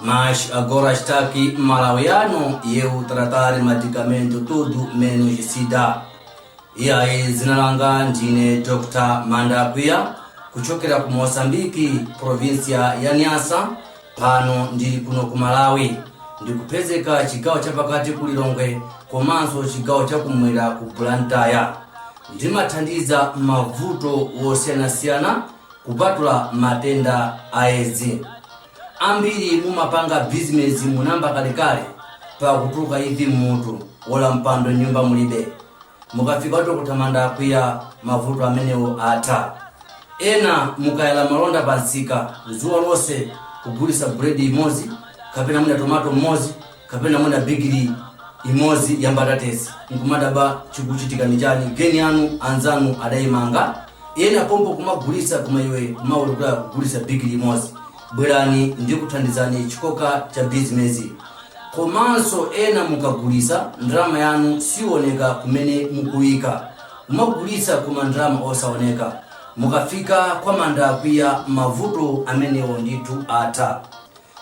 Mas agora está aqui malawiano e eu tratar medicamento tudo menos sida. E aí, zina langa ndine Dr. Manda Akwiya kuchokera ku Mozambique, provinsia ya Nyasa, pano ndili kuno ku Malawi. Ndikupezeka chigawo chapakati ku Lilongwe komanso chigawo chakumwera ku Blantyre. Ndimathandiza mavuto wosiyanasiyana kupatula matenda a edzi. Ambiri mumapanga bizinesi munamba kalekale mpaka kutuluka imvi mmutu olo mpando mnyumba mulibe mukafika kwa dr manda akwiya mavuto amenewo atha ena mukayala malonda pa msika dzuwa lonse kugulisa buledi imodzi kapena mwina tomato mmodzi kapena mwina bigiri imodzi ya mbatatesi nkumadabwa chikuchitika ndi chani geni yanu anzanu adayimanga ena pompo kumagulitsa koma iwe kumawerukira kugulitsa bigiri imodzi bwerani ndikuthandizani chikoka cha bizinesi komanso ena mukagulitsa ndalama yanu siwoneka kumene mukuyika kumagulitsa koma ndalama osawoneka mukafika kwa manda akwiya mavuto amenewo ndithu atha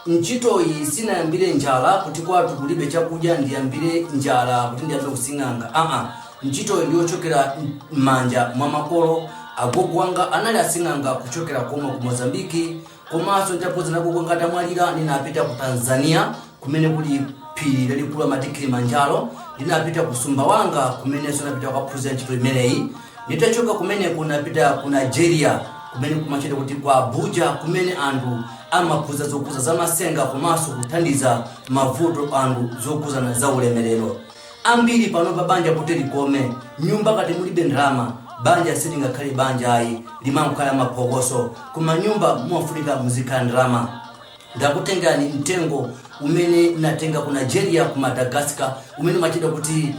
Ntchitoyi sinayambire njala kuti kwathu kulibe chakudya ndiyambire njala kuti ndiyambe using'anga aa ntchitoyi ndiyochokera mmanja mwa makolo agogo wanga anali asing'anga kuchokera komwe ku Mozambique komanso ntapoza nagogo wanga atamwalira ninapita ku Tanzania kumene kuli phiri lalikulu amati Kilimanjaro ndinapita ku Sumbawanga kumeneso napita kukaphunzira ntchito imeneyi Nditachoka kumeneko ndinapita ku Nigeria kumene kumatchedwa kuti ku Abuja kumene anthu amaphunzira zokhudza zamatsenga komanso kuthandiza mavuto a anthu zokhudzana za ulemerero. Ambiri panopa banja kuti likome, mnyumba ngati mulibe ndalama, banja silingakhale banja ayi, limangokhala maphokoso. Koma mnyumba mumafunika muzikhala ndalama. Ndakutengerani mtengo umene ndinatenga ku Nigeria ku Madagascar umene umatchedwa kuti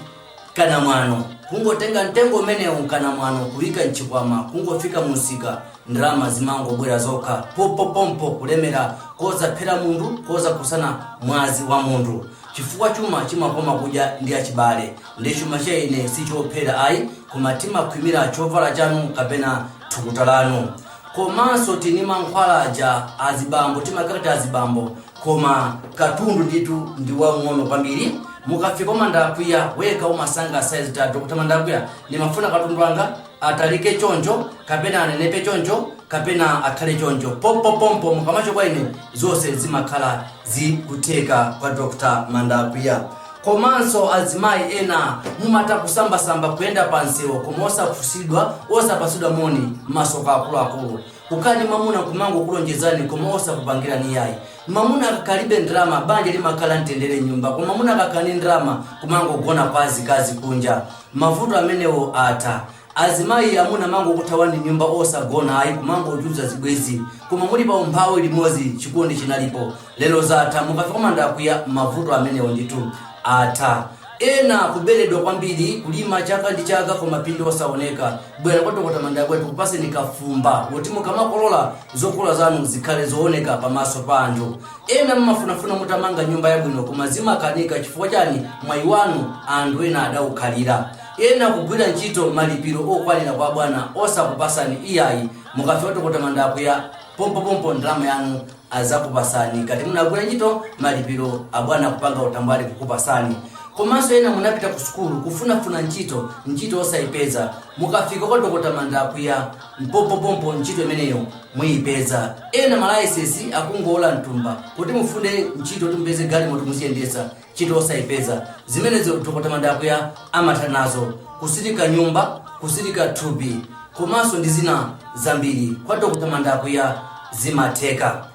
kanamwano, kungotenga mtengo umenewu kanamwano kuika mchikwama kungofika mumsika ndalama zimangobwera zokha pompopompo kulemera kosaphera munthu kosakhudzana mwazi wa munthu chifukwa chuma chimakoma kudya ndi achibale ndi chuma cha ine sichophera ayi koma timakhwimira chovala chanu kapena thukuta lanu komanso tili ndi mankhwala aja azibambo timakakati azibambo koma katundu ndithu ndi waung'ono kwambiri mukafika kwa manda akwiya wekha umasankha size kuti a dr manda akwiya ndimafuna katundu wanga atalike choncho kapena anenepe choncho kapena akhale choncho pompopompo mukamachoka kwa ine zonse zimakhala zikutheka kwa dr manda akwiya komanso azimayi ena mumatha kusambasamba kuyenda pa msewu koma osafunsidwa osapatsidwa moni matsoka akuluakulu Kukhala ndi mamuna kumangokulonjezani koma osakupangirani yayi. Mamuna akakhala alibe ndalama banja limakhala la mtendere m'nyumba koma mamuna akakhala ndi ndalama kumangogona kwa azikazi kunja. Mavuto amenewo atha. Azimayi amuna amangokuthawani m'nyumba osagona ayi kumangochulutsa zibwenzi koma muli pa umphawi limodzi chikondi chinalipo. Lero zatha, mukafika kwa Manda Akuya, mavuto amenewo ndithu atha. Ena kuberedwa kwambiri, kulima chaka ndi chaka koma phindu osaoneka. Bwera kwa Dokota Manda Akuya tikupaseni kafumba woti mukamakolola zokolola zanu zikhale zooneka pamaso pa anthu. Ena mmafunafuna mutamanga nyumba yabwino koma zimakanika chifukwa chani? Mwayi wanu anthu ena adaukhalira. Ena kugwira ntchito malipiro okwanira kwa abwana osakupasani iyayi. Mukafika kwa Dokota Manda Akuya, pompopompo ndalama yanu azakupasani ngati munagwira ntchito malipiro abwana kupanga utambwali kukupasani komanso ena munapita ku sukulu kufunafuna ntchito ntchito osayipeza mukafika kwa dokota manda akuya mpompopompo ntchito imeneyo muyipeza ena malaisesi akungowola m'thumba kuti mufune ntchito kuti mupeze galimoto muziyendesa ntchito osaipeza. Zimenezo Dokota Manda Akuya amatha nazo, kusilika nyumba, kusilika thupi komanso ndi zina zambiri kwa Dokota Manda Akuya zimatheka.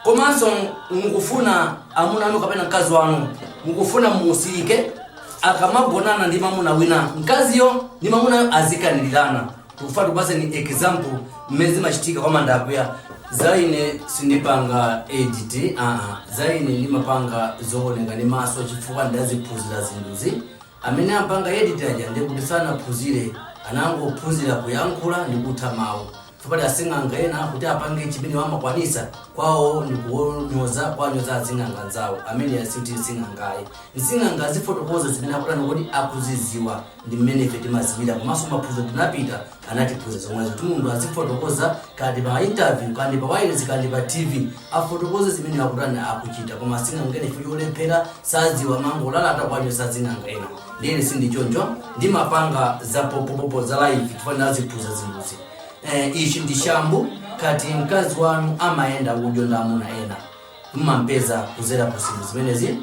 Komanso mukufuna amuna anu kapena mkazi wanu mukufuna mumusilike akamagonana ndi mamuna wina, mkaziyo ndi mamunayo azikanilirana. tikufuna tikupatseni example mmene zimachitika kwa manda akuya za ine sindipanga edit aa za ine ndimapanga zooneka ndi maso chifukwa ndaziphunzira zinthuzi amene amapanga edit aja ndi kuti sanaphunzire anangophunzira kuyankhula ndi kutha mawu chifukwa choti asing'anga ena kuti apange chimene amakwanisa kwawo ndi kuwanyoza kuwanyoza asing'anga anzawo ameneyo si sing'anga ayi nsing'anga azifotokoza zimene akutani kuti akuziziwa ndi mmene ife timaziwira komanso maphunziro tinapita anatiphunzitsa zomwezo kuti munthu azifotokoza kaya ndi pa interview kaya ndi pa wireless kaya ndi pa tv afotokoze zimene akutani akuchita koma asing'anga ena chifukwa cholephera saziwa amangolalata kuwanyoza asing'anga ena ndiye ine sindichoncho ndimapanga za pompopompo za live chifukwa ndinaziphunzira zinthuzi eh, ichi ndi shambu ngati mkazi wanu amayenda udyo ndi amuna ena mmampeza kuzera ku zinthu zimenezi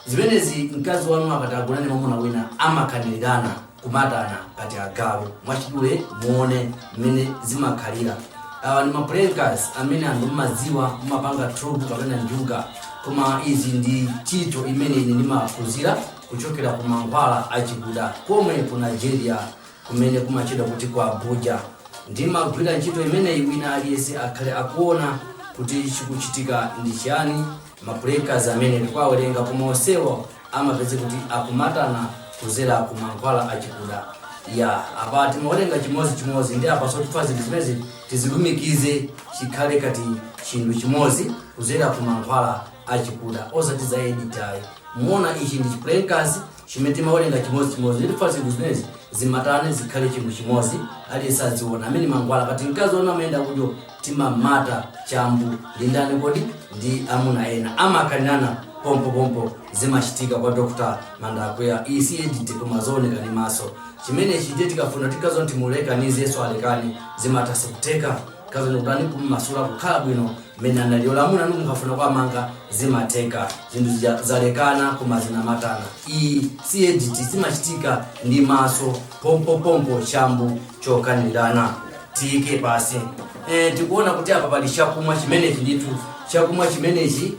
zimenezi mkazi wanu akati agona ndi mwamuna wina amakanirirana kumatana ngati agalu mwachidule muone mmene zimakhalira awa ndi maplankas amene anthu mmadziwa mmapanga tropu kapena njuga koma izi ndi ntchito imene ine ndimaphunzira kuchokera ku mankhwala achikuda komwe ku nigeria kumene kumatchedwa kuti ku abuja ndimagwira ntchito imeneyi wina aliyense akhale akuona kuti chikuchitika ndi chiyani mapulekasi amene ndikuwawerenga koma onsewo amapeze kuti akumatana kudzera ku mankhwala achikuda iya apa timawerenga chimodzi chimodzi ndiye apa sopano zinthu zimenezi tizilumikize chikhale ngati chinthu chimodzi kudzera ku mankhwala achikuda osati za edit ayi muona ichi ndi chipulekasi chimene timawerenga chimodzi chimodzi ndifuna zinthu zimenezi zimatane zikhale chinthu chimodzi aliyense adziona amenewa mankhwala ngati mkazi wanu amayenda kunjira timamata chambu ndi ndani akagona ndi amuna ena amakanirana pompopompo zimachitika kwa dr mandakwiya iyi si edit koma zooneka ndi maso chimenechi ndiye tikafuna tikanso timulekanize iye asalekane zimatha si kutheka Kazemekani kumumasula kukhala bwino mmene analili olo amuna anu mukafuna kuwamanga zimatheka zinthu zija zalekana koma zinamatana iyi si edit zimachitika ndi maso pompopompo chambu chokanirirana tiike pasi e, tikuona kuti apa pali chakumwa chimenechi ndithu chakumwa chimenechi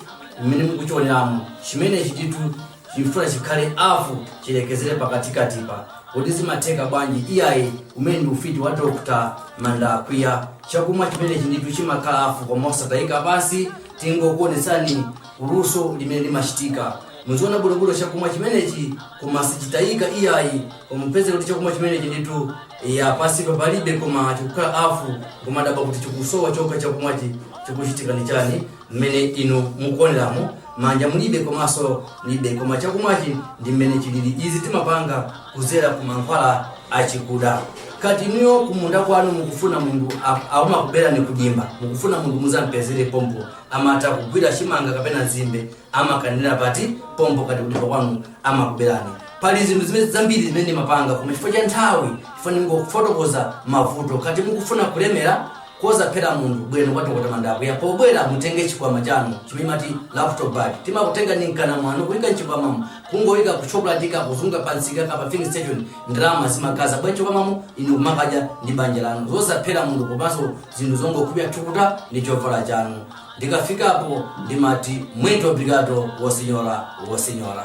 mmene mukuchioneramu chimenechi ndithu Tifuna chikhale hafu chilekezere pakatikatipa kodi zimatheka bwanji iyayi umenewu ndi ufiti wa Dr mandakwiya chakumwa chimenechi ndithu chimakhala hafu koma osatayika pansi tingokuonetsani luso limene limachitika muziona bwinobwino chakumwa chimenechi koma sichitayika iyayi koma mupeze kuti chakumwa chimenechi ndithu iya pansipa palibe koma chikukhala hafu kumadabwa kuti chikusowa chokha chakumwachi chikuchitika ndi chani mmene inu mukuoneramo manja mulibe komanso mulibe koma chakumwachi ndi mmene chilili izi timapanga kudzera ku mankhwala achikuda ngati inuyo kumunda kwanu mukufuna munthu amakuberani kudimba mukufuna munthu mudzampezere pompo amatha kugwira chimanga kapena nzimbe amakanira pati pompo ngati kudimba kwanu amakuberani pali zinthu zina zambiri zimene ndimapanga koma chifukwa cha nthawi chifukwa ndingofotokoza mavuto ngati mukufuna kulemera kosaphera munthu bwerani kwa dokotala mandakwiya pobwera mutenge chikwama chanu chimene mati laptop bag timakutenga ndi mkanda wanu kuyika mchikwamamo kungoyika kukapulatika kuzungulira pamsika kapena filling station ndalama zimadzadza bwa mchikwamamo inu kumakadya ndi banja lanu zosaphera munthu komanso zinthu zongokhumbira thukuta ndi chovala chanu ndikafikapo ndimati muito obrigado o senhor o senhora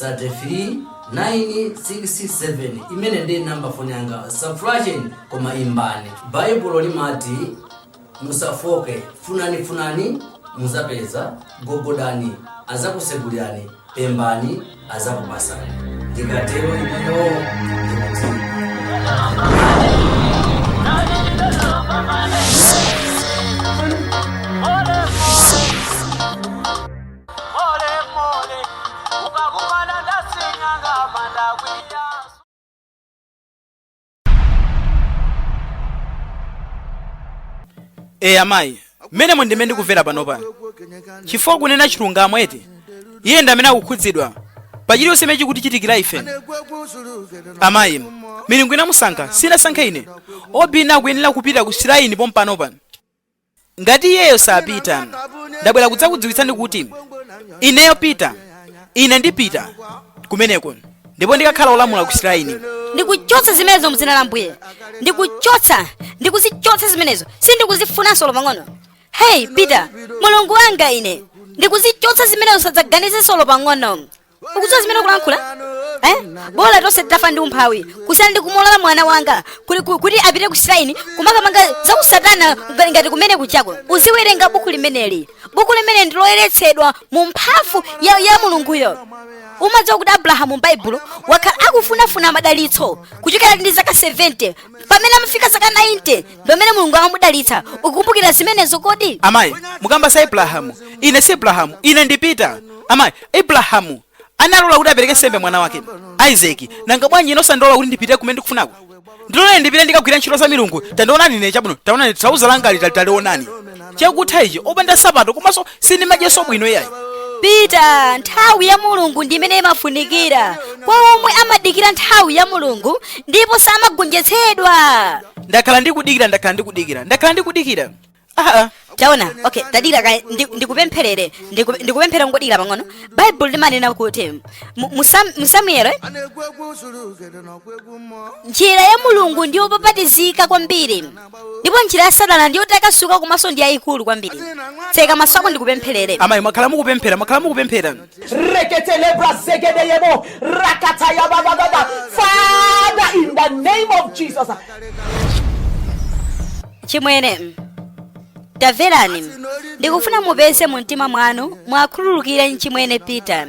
33 967 imene ndi nambala ya foni yanga musaflashe koma imbani baibulo limati musafooke funani funani mudzapeza gogodani adzakutsegulirani pemphani adzakupatsani ndikatero ineyo ndikuti Mole mole, ukakumana ndi asing'anga ndakwiya. eya mayi mmene muno ndi mmene ndikumvera panopa chifukwa kunena chilungamo eti iye ndi amene akukhudzidwa pa chilichonse chimene chikutichitikira ife amayi milungu inamusankha sinasankhe ine Obinna akuyenera kupita ku shrine pompanopa ngati iyeyo sapita ndabwera kudzakudziwitsani kuti ineyo Peter ine ndipita kumeneko ndipo ndikakhala olamula ku shrine ndikuchotsa zimenezo mudzina la Ambuye ndikuchotsa ndikuzichotsa zimenezo sindikuzifunanso olo pang'ono heyi Peter mulungu wanga ine ndikuzichotsa zimenezo sadzaganizenso olo pang'ono ukudziwa zimene ukulankhula eh? bola tonse titafa ndi umphawi kusiyana ndi kumulola mwana wanga kuti, ku- kuti apite ku shrine kumakapanga zakusatana ngati- ngati kumene kukacha uziwerenga buku limeneli buku limeneli ndiloyeretsedwa mu mphamvu ya, ya mulunguyo umadziwa kuti abrahamu m'baibulo wakhala akufunafuna madalitso kuchokera ndi zaka 70 pamene amafika zaka 90 ndi pomwe mulungu anamudalitsa ukumbukira zimenezo kodi amayi mukamba za abrahamu ine si abrahamu ine ndi Peter amayi abrahamu analola kuti apereke nsembe mwana wake isaki nanga bwanji ine osandilola kuti ndipite kumene ndikufunako ndiloleni ndipite ndikagwire ntchito za milungu tandionani ine chabwino taonani trauza langali tali talionani chakutha ichi opanda nsapato komanso sindimadyanso bwino iyayi Peter nthawi ya mulungu ndi imene imafunikira kwa omwe amadikira nthawi ya mulungu ndipo samagonjetsedwa ndakhala ndikudikira ndakhala ndikudikira ndakhala ndikudikira aa taona okay tadikira kaye ndi- ndikupempherere ndiku- ndikupempherere ungodikira pang'ono baibulo limanena kuti mu- mu Sam- mu samueli a na-ekwu egwu zuru ugede na ọkwa egwu mmụọ njira ya mulungu ndi yopapatizika kwambiri ndipo njira ya satana ndi yotakasuka komanso ndi yayikulu kwambiri tseka maso ako ndikupempherere amayi mwakhala mukupemphera mwakhala mukupemphera Reketelebra zegedeyebo, rakatayababababa. Father, in the name of Jesus, achimwene tamverani ndikufuna mupeze mu mtima mwanu muwakhululukire achimwene peter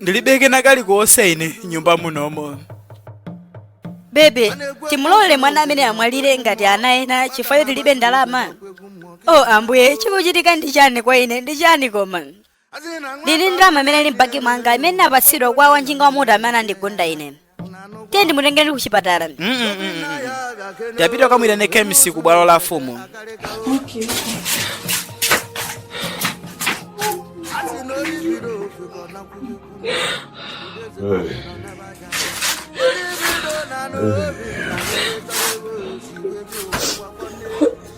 ndilibe kena kalikonse ine m'nyumba munomo bebe timulolere mwana ameneyu amwalire ngati ana ena chifukwa choti tilibe ndalama o ambuye chikuchitika ndi chani kwa ine ndi chani koma ndili ndi ndalama imene ili m'banki mwanga imene ndinapatsidwa kwa wanjinga wa moto amene anandigunda ine tiye ndimutengere ndi kuchipatala tapita ukamuitane kemisi ku bwalo la afumu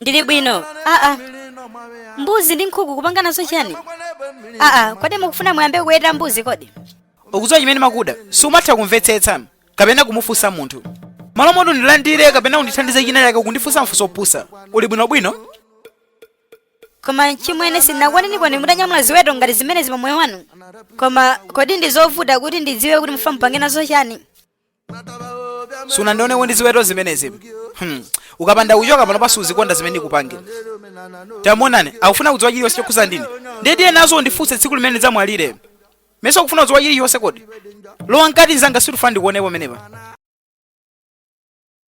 ndili bwino aa mbuzi ndi nkhuku kupanga nazo chani aa kodi mukufuna muyambe kuweta mbuzi kodi ukudziwa chimene makuda sumatha kumvetsetsa kapena kumufunsa munthu malo moti undilandire kapena kundithandiza china chake ukundifunsa mafunso opusa uli bwinobwino koma achimwene sindinakuoneniko mutanyamula ziweto ngati zimenezi pamoyo wanu koma kodi ndi zovuta kuti ndidziwe kuti mufuna mupange nazo chani sunandioneko ndi ziweto zimenezi hmm. ukapanda kuchoka pano pansi uzikonda zimene ndikupange tamuonani akufuna kudziwa chilichonse chokhuza ndi ine ndiye tiye nazo undifunse tsiku limene ndidzamwalire mesa ukufuna kudziwa chilichonse kodi lowa mkati nzanga sindifuna ndikuone pomwepa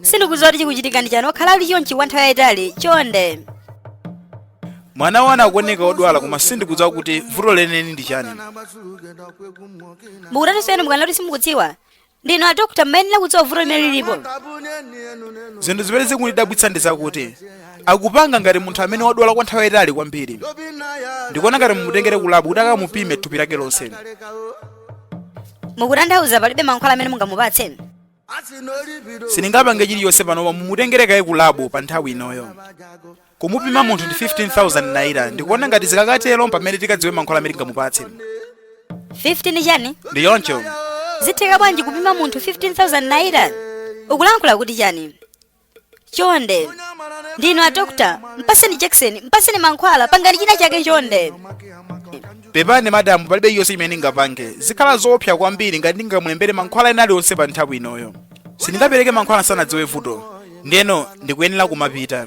sindikudziwa kuti chikuchitika ndi chani wakhala ali chonchi kwa nthawi yayitali chonde mwana wanu akuoneka odwala koma sindikudziwa kuti vuto lenileni ndi chani mukutanthauza chani mukunena kuti simukudziwa ndinu adokota mumayenera kudziwa vuto limene lilipo zinthu zimene zikundidabwitsa ndi zakuti akupanga ngati munthu amene wadwala kwa nthawi yayitali kwambiri ndikuona ngati mumutengere kulabu kuti akamupime thupi lake lonse mukutanthauza palibe mankhwala amene mungamupatse sindingapange chilichonse panopa mumutengere kaye ku labu pa nthawi inoyo kumupima munthu ndi 15000 naira ndikuona ngati zikatero mpamene tikadziwe mankhwala amene tingamupatse 15 chani ndi choncho zitheka bwanji kupima munthu 15000 naira ukulankhula kuti chani chonde ndinu adokotala mpaseni jakisoni mpaseni mankhwala pangani china chake chonde pepani madamu palibe chilichonse chimene ndingapange zikhala zoopsa kwambiri ngati ndingamulembere mankhwala ena alionse pa nthawi inoyo sindingapereke mankhwala ndisanadziwe vuto ndeno ndikuyenera kumapita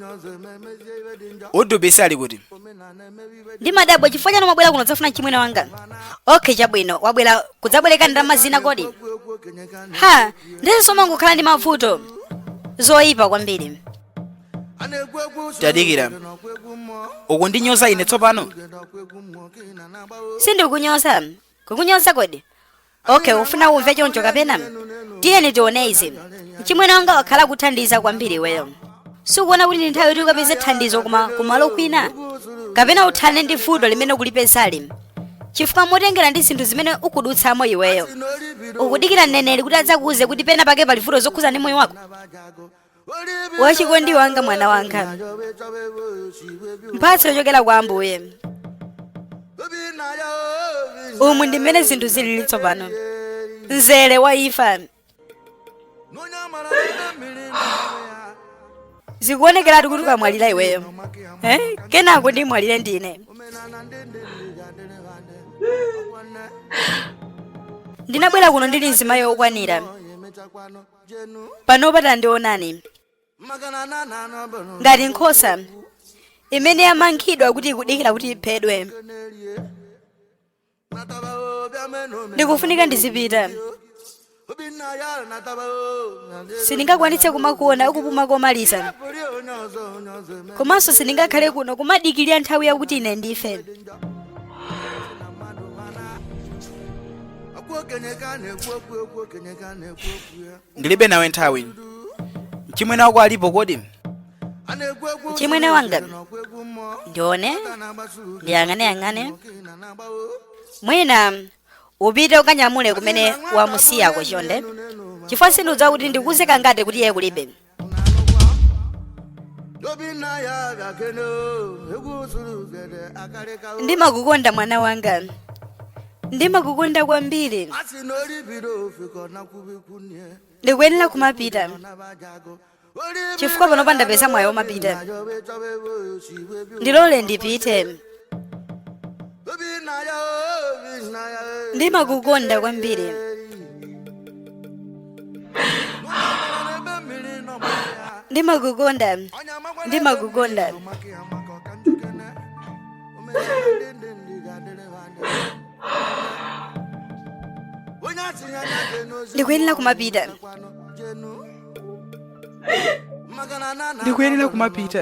udubisi ali kuti ndimadabwa chifukwa chani mwabwera kuno kudzafuna mchimwene wanga okay chabwino wabwera kudzabwereka ndalama zina kodi ha ndi izinso mumangokhala ndi mavuto zoyipa kwambiri tadikira ukundinyoza ine tsopano sindikunyoza kukunyoza kodi okay ufuna umve choncho kapena tiyeni tione izi mchimwene wanga wakhala akuthandiza kwambiri iweyo sukuona kuti ndi nthawi yoti ukapeze thandizo kuma kumalo kwina kapena uthane ndi vuto limene ukulipezali chifukwa motengera ndi zinthu zimene ukudutsamo iweyo ukudikira mneneri kuti adzakuuze kuti pena pake pali vuto zokhuza ndi moyo wako wachikondi wanga mwana wanga mphatso yochokera kwa ambuye umu ndi mmene zinthu zilili tsopano mzere wa imfa zikuonekeratu kuti ukamwalira iweyo eh? kenako ndimwalire ndine ndinabwera kuno ndili mzimayi okwanira panopa tandionani ngati nkhosa imene yamangidwa kuti ikudikira kuti iphedwe ndikufunika ndizipita sindingakwanitse kumakuona ukupuma komaliza komanso sindingakhale kuno kumadikirira nthawi yakuti ine ndife ndilibe nawe nthawi mchimwene wako alipo kodi mchimwene wanga ndione ndiyang'aneyang'ane mwina upite ukanyamule kumene wamusiyako chonde chifukwa sindidziwa kuti ndikuuze kangati kuti iye kulibe ndimakukonda mwana wanga ndimakukonda kwambiri ndikuyenera kumapita chifukwa panopa ndapeza mwayi womapita ndilole ndipite ndimakukonda kwambiri ndimakukonda ndimakukonda ndikuyenera kumapita ndikuyenera kumapita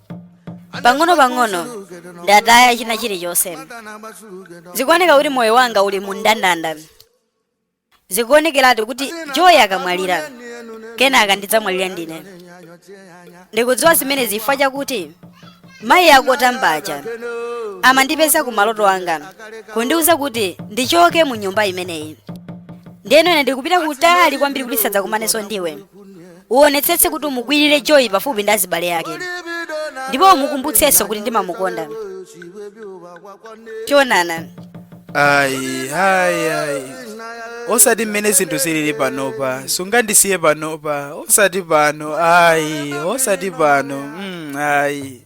pang'ono pang'ono ndataya china chilichonse zikuoneka kuti moyo wanga uli mu ndandanda zikuonekeratu kuti joyi akamwalira kenaka ndidzamwalira ndine ndikudziwa zimenezi chifukwa chakuti mayi akotambaja amandipeza ku maloto anga kundiwuza kuti ndichoke mu nyumba imeneyi ndiyeno ine ndikupita kutali kwambiri kuti tisadzakumanenso ndiwe uonetsetse kuti umukwirire joyi pafupi ndi azibale ake ndipo umukumbutsenso kuti ndimamukonda tionana ayi ayi ayi osati mmene zinthu zilili panopa sungandisiye panopa osati pano ayi osati pano mm, ayi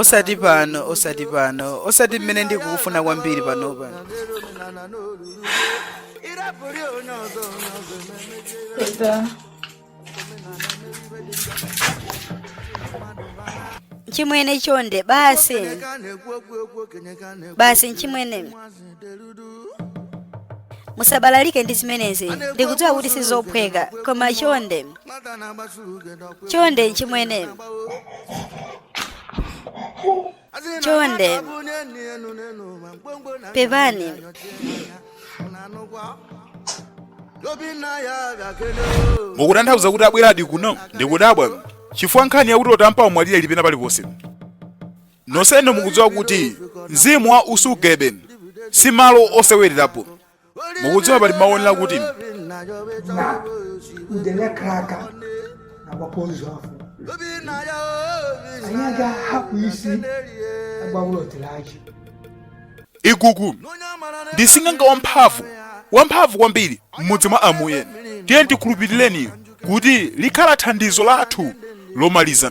osati pano osati pano osati mmene ndikukufuna kwambiri panopa pita nchimwene chonde basi basi nchimwene musabalalike ndi zimenezi ndikudziwa kuti sizophweka koma chonde chonde nchimwene chonde pepani mukutanthauza kuti abweradi kuno ndikudabwa chifukwa nkhani yakuti otampa amwalira ili pena paliponse nonsenu mukudziwa kuti mzimu wa usugebe si malo osewererapo mukudziwa pali maonera kuti na udele kraka na bapolisi afọ anyị aga hapụ isi agbawụlọ tere achị igugu ndi sing'anga wamphamvu wamphamvu kwambiri m'mudzi mwa amuyeni tiyeni tikhulupirire kuti likhala thandizo lathu lomaliza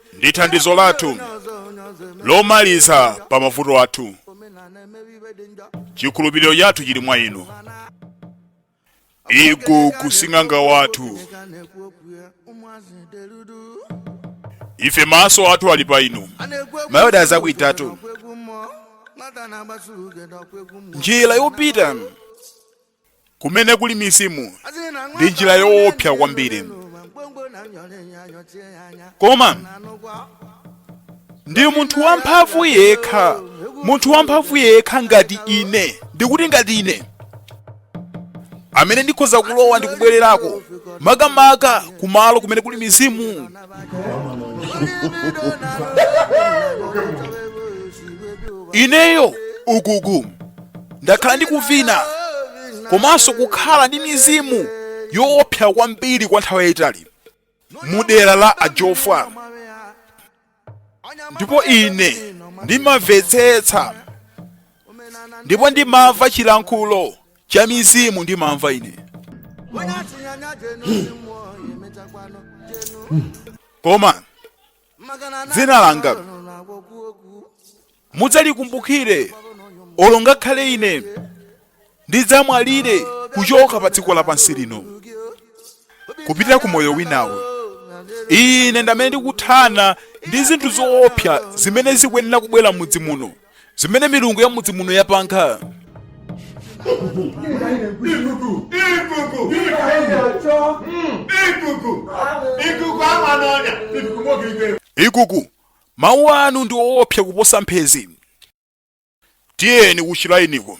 ndi thandizo lathu lomaliza pa mavuto athu chikhulupiriro chathu chili mwa inu igugu sing'anga wathu ife maso athu ali pa inu mayo njira yopita kumene kuli mizimu ndi njira yoopsa kwambiri koma ndi munthu wamphamvu yekha munthu wamphamvu yekha ngati ine ndikuti ngati ine amene ndikhoza kulowa ndi kubwererako makamaka kumalo kumene kuli mizimu ineyo igugu ndakhala ndikuvina komanso kukhala ndi mizimu yoopsa kwambiri kwa nthawi yayitali mu dera la ajofwa ndipo ine ndimamvetsetsa ndipo ndimamva chilankhulo cha mizimu ndimamva ine koma dzina langa mudzalikumbukire olo ngakhale ine ndidzamwalire kuchoka pa dziko lapansi lino kupita ku moyo winawo ine ndamene ndikuthana ndi zinthu zoopsa zimene zikuyenera kubwera m'mudzi muno zimene milungu ya mudzi muno yapanga Ikuku mawu anu ndi oopsa kuposa mphenzi tiyeni kuchilainiko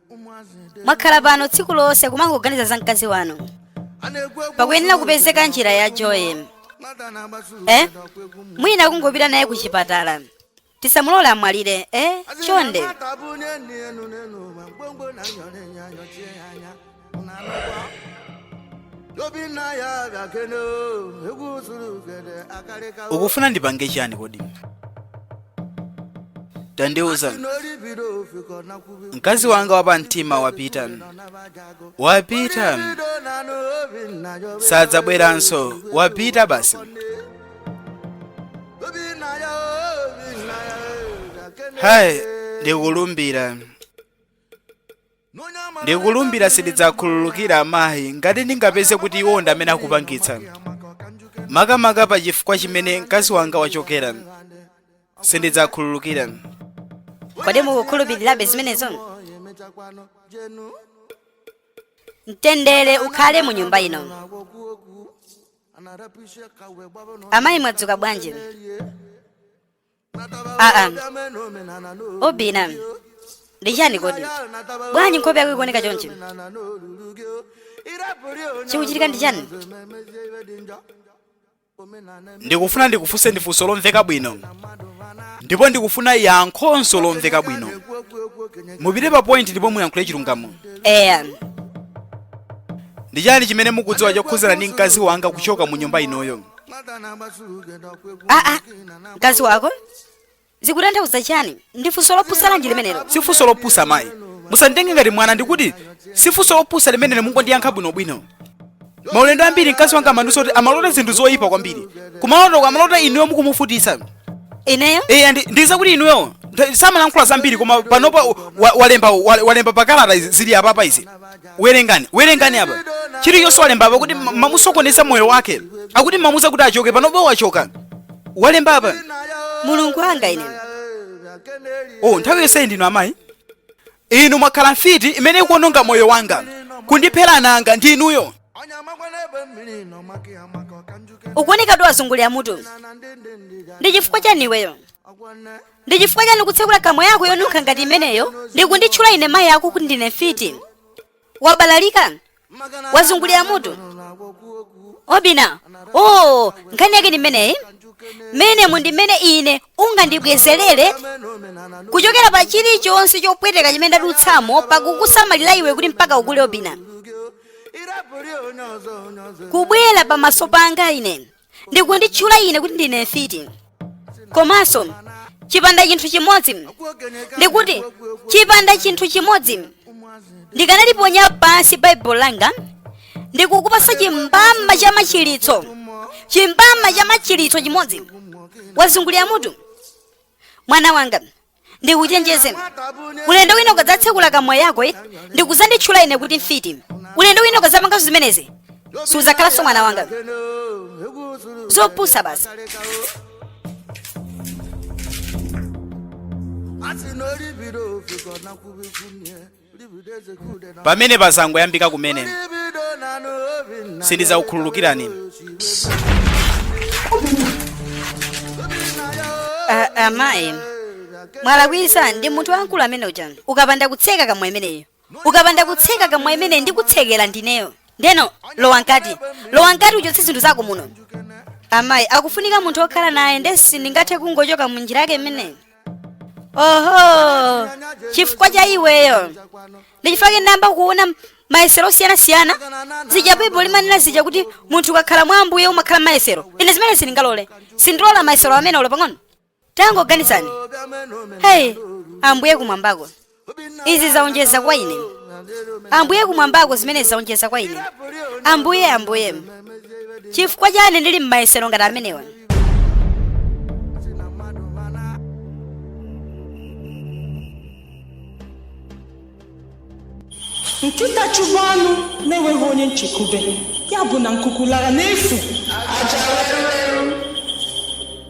mwakhala pano tsiku lonse kumangoganiza za mkazi wanu pakuyenera kupezeka njira yochoye eh? mwina kungopita naye ku chipatala tisamulole amwalire eh? chonde ukufuna ndipange chani kodi tandiuza mkazi wanga wa pamtima wapita wapita sadzabweranso wapita basi hayi ndikulumbira ndikulumbira sindidzakhululukira amayi ngati ndingapeze kuti iwo ndi amene akupangitsa makamaka pa chifukwa chimene mkazi wanga wachokera sindidzakhululukira kodi mukukhulupirirabe zimenezo mtendere ukhale mu nyumba ino amayi mwadzuka bwanji aa Obinna ndi chani kodi bwanji nkhope yako ikuoneka chonchi chikuchitika ndi chani ndikufuna ndikufunseni funso lomveka bwino ndipo ndikufuna yankho lomveka bwino mupite pa point ndipo muyankhule chilungamo eya ndi chani chimene mukudziwa chokhuzana ndi mkazi wanga kuchoka mu nyumba inoyo aa mkazi wako zikutanthauza chani ndi funso lopusa lanji limenelo si funso lopusa mayi musanditenge ngati mwana ndikuti si funso lopusa limenelo mungondiyankha bwinobwino maulendo ambiri mkazi wanga amandiuza kuti amalota zinthu zoyipa kwambiri kumalotoko amalota inuyo mukumuvutitsa ineyo eya ndi- ndidziwa kuti inuyo ntha- samalankhula zambiri koma panopa wa- walemba wa- walemba pakalata izi- zili apapa izi werengani werengani apa chilichonse walemba apa kuti mumamusokoneza moyo wake akuti mumamuuza kuti achoke panopa wachoka walemba apa mulungu wanga ine oh nthawi yonse ndinu amayi inu mwakhala mfiti imene ikuononga moyo wanga kundiphera ana anga ndi inuyo ukuoneka kuti wazungulira mutu ndi chifukwa chani iweyo ndi chifukwa chani kutsekula kamwa yako yonunkha ngati imeneyo ndi kunditchula ine mayi ako kuti ndine mfiti wabalalika wazungulira mutu obina oo nkhani yake ndi imeneyi mmenemu ndi mmene ine ungandibwezerere kuchokera pa chilichonse chopweteka chimene ndadutsamo pakukusamalira iwe kuti mpaka ukule obina kubwera pamaso panga ine ndi kunditchula ine kuti ndine mfiti komanso chipanda chinthu chimodzi ndikuti chipanda chinthu chimodzi ndikanaliponya pansi baibulo langa ndikukupasa chimbama cha machiritso chimbama cha machiritso chimodzi wazungulira mutu mwana wanga ndikuchenjeze ulendo wina ukadzatsekula kamwa yako eh, ndikuzanditchula ine kuti mfiti ulendo wina ukadzapanganso zimenezi sudzakhalanso mwana wanga zopusa basi pamene pazangoyambika kumene sindidzakukhululukirani Ah, amayi mwalakwisa ndi munthu wamkulu amene uja ukapanda kutseka kamwa imeneyo ukapanda kutseka kamwa imeneyi ndikutsekera ndineyo ndiyeno lowa mkati lowa mkati uchotse zinthu zako muno amayi akufunika munthu okhala naye ndesi ndingathe kungochoka mu njira yake imeneyi oho chifukwa cha iweyo ndichifukwa chake ndayamba kuona mayesero osiyanasiyana zija baibulo limanena zija kuti munthu ukakhala mwa ambuye umakhala m'mayesero ine zimene sindingalole sindilola mayesero amenewo pang'ono tangoganizani heyi ambuye kumwambako izi zaonjeza kwa ine ambuye kumwambako zimenezi zaonjeza kwa ine ambuye ambuye chifukwa chani ndili m'mayesero ngati amenewa nkịta chụgbu anụ na-enweghị onye nchekwube ya bụ na nkuku lara n'efu aja were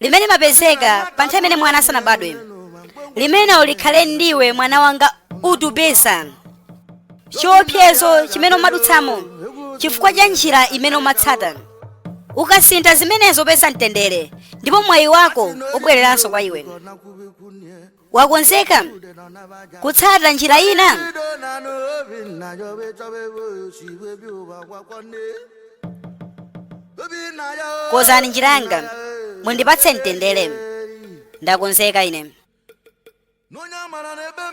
limene limapezeka pa nthawi imene mwana asanabadwe limenelo likhale ndiwe mwana wanga wachepetsa chiopsezo chimene umadutsamo chifukwa cha njira imene umatsata ukasintha zimenezo upeza mtendere ndipo mwayi wako ubwereranso kwa iwe wakonzeka kutsata njira ina kozani njira yanga mundipatse mtendere ndakonzeka ine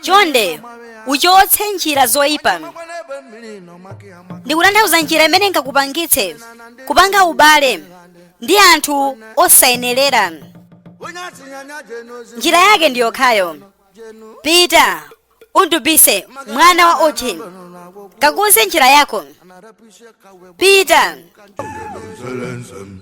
chonde uchotse njira zoyipa ndikutanthauza njira imene ingakupangitse kupanga ubale ndi anthu osayenerera. Njira yake ndi yokhayo. Pita, undupise mwana wa uchi, kakunse njira yako. Pita. Jerusalem.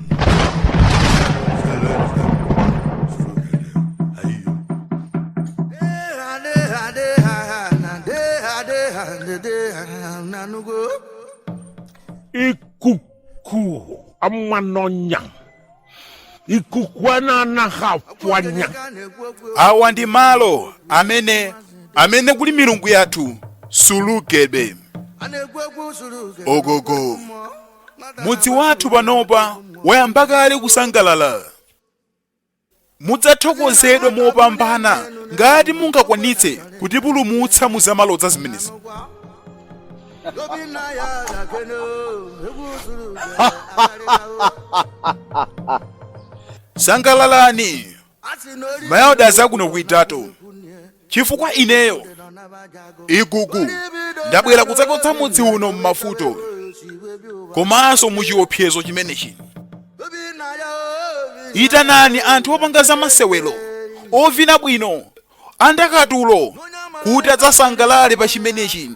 ikuku amanonya ikuku ananahapwanya awa ndi malo amene amene kuli milungu yathu sulugedwe ogogo mudzi wathu panopa wayamba kale kusangalala mudzathokozedwa mopambana ngati mungakwanitse kutipulumutsa mu zamalodza zimenezi sangalalani mayawada zakuno kuidato chifukwa ineyo igugu ndabwera kudzachotsa mudzi uno m'mavuto komanso muchiopsezo chimenechino itanani anthu opanga za masewero ovina bwino andakatulo kuti adzasangalale pa chimenechino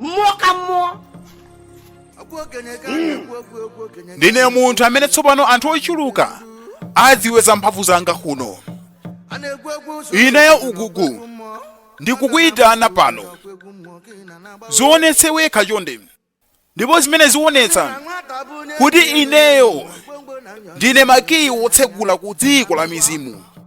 mmụọ ka mmụọ ndine munthu amene tsopano anthu ochuluka adziwe za mphamvu zanga kuno ineyo igugu ndikukuyitana pano zionetse wekha chonde ndipo zimene zionetsa kuti ineyo ndine makiyi wotsegula ku dziko la mizimu